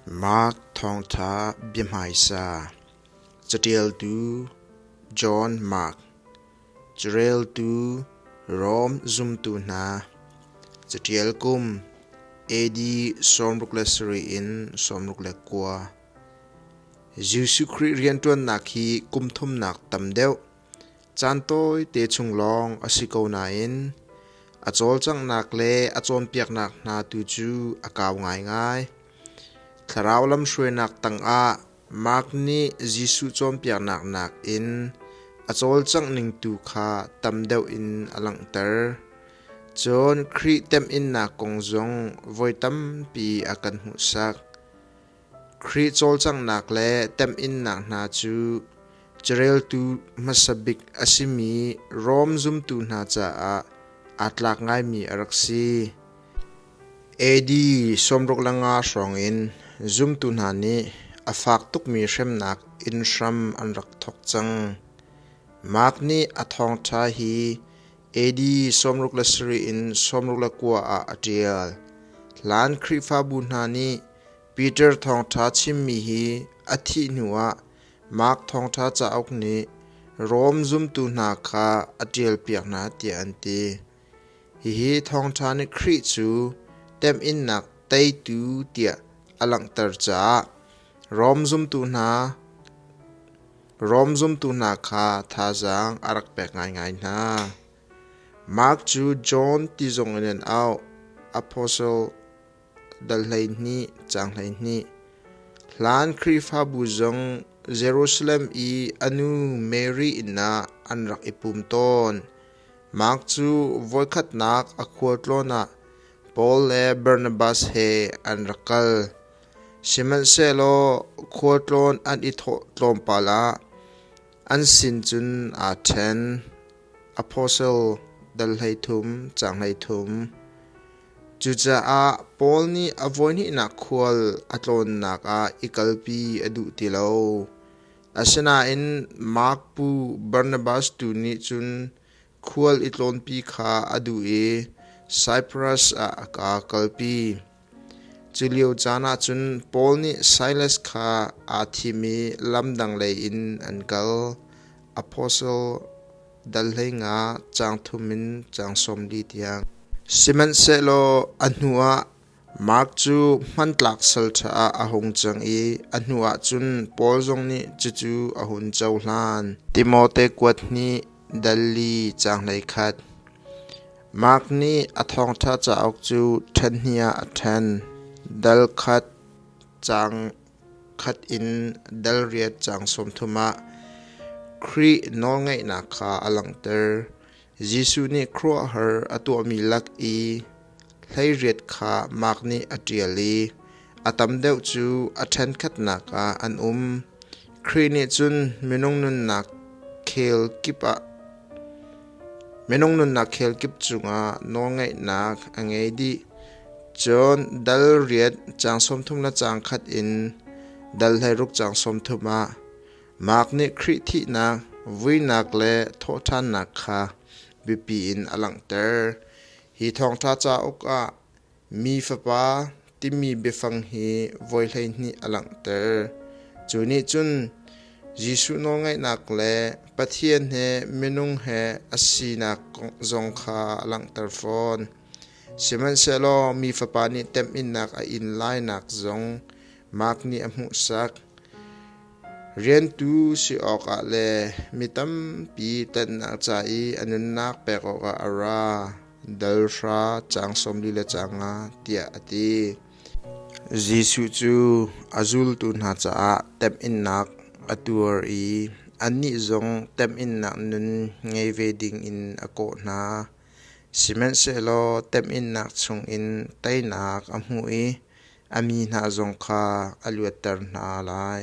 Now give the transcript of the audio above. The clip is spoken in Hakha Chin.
Mark thawngṭha biahmaisa Caṭialtu John Mark Careltu Rom zumtu hna Caṭial kum AD sawmruk le sarih in sawmruk le kua Jesuh Khrih rianṭuannak hi kum thumnak tam deuh Caan tawite chung lawng a si ko nain a cawlcanghnak le a cawnpiaknak hna tu cu a kau ngaingai. Thlarau lamhruainak tangah Mark nih Jesuh cawnpiaknak nakin a cawlcangh ning tu kha tam deuh in a langhter. Cun Khrih temhinnak kong zong voi tampi a kan hmuhsak. Khrih cawlcanghnak le temhinnak hna cu careltu hmasa bik a simi Rom zumtu hna caah aa tlak ngaimi a rak si. AD sawmruk le nga hrawngin zumtu hna nih a fak tukmi hremnak inn hram an rak thawk cang. Mark nih a thawngṭha hi AD sawmruk le sarih in sawmruk le kua ah a ṭial. Hlan Khrihfabu hna nih Peter thawngṭha chimmi hi a thih hnuah Mark thawngṭha cauk nih Rom zumtu hna kha a ṭialpiak hna tiah an ti. Hihi thawngṭha nih Khrih cu temhinnak teitu tiah a langhter caah Rom zumtu hna Rom zumtu hna kha thazaang a rak pek ngaingai hna. Mark cu John ti zong in an auh, apostle dal hleihnih, caang hleihnih. Hlan Khrihfabu zong Jerusalem i a nu Mary inn ah an rak i pum tawn. Mark cu voikhatnak a khualtlawn ah Paul le Barnabas he an rak kal. Sihmanhsehlaw khua tlawn an i thawh tlawmpal ah an sin cun aa ṭhen. Apostle dal hleithum, caang hleithum. Cucaah Paul nih a voihnihnak khual a tlawnnak ah i kalpi a duh ti lo. Asinain Mark pu Barnabas tu nih cun Khual i tlawnpi kha a duh i Saipras ah a ka kalpi. Culio caan ah cun Paul nih Silas kha aa thim i lam dang lei in an kal. Apostle dal hleinga caang thum in caang sawm li tiang. Sihmanhsehlaw a hnuah Mark cu hmantlak sal ṭha ah a hung cang i a hnuah cun Paul zong nih cucu a hun cohlan. Timote kuat hnih, Dalli caanghlei khat. Mark nih a thawngṭha cauk cu ṭhenhnih ah a ṭhen. Dal khat caang khat in dal riat caang sawmthum ah Khrih nawlngeihnak kha a langhter. Jesuh nih khuaruahhar a tuahmi lak i hleiriat kha Mark nih a ṭial i a tam deuh cu a ṭhenkhatnak ah an um. Khrih nih cun minung nunnak khel kip ah minung nunnak khel kip cungah nawlngeihnak a ngei dih. Cun dal riat caang sawmthum le caang khat in dal hleiruk caang sawmthum ah Mark nih Khrih thihnak, vuinak le thawhṭhannak kha biapi in a langhter. Hi thawngṭha cauk ah Mi Fapa timi biafang hi voi hleihnih a langhter. Cu nih cun Jesuh nawlngaihnak le Pathian he minung he a sinak zong kha a langhter fawn. Sihmanhsehlaw mi Fapa nih temhinnak a in lainak zong Mark nih a hmuhsak. Riantu si awkah le mi tampi ṭanhnak ca i a nunnak pek awkah a ra, dal hra caang sawmli le caang nga, tiah a ti. Jesuh cu a zultu hna caah temhinnak a tuar i annih zong temhinnak nun ngei ve dingin a kawh hna. Sihmanhsehlaw temhinnak chungin teinak a hmuh i A mi hna zong kha a luatter hna lai.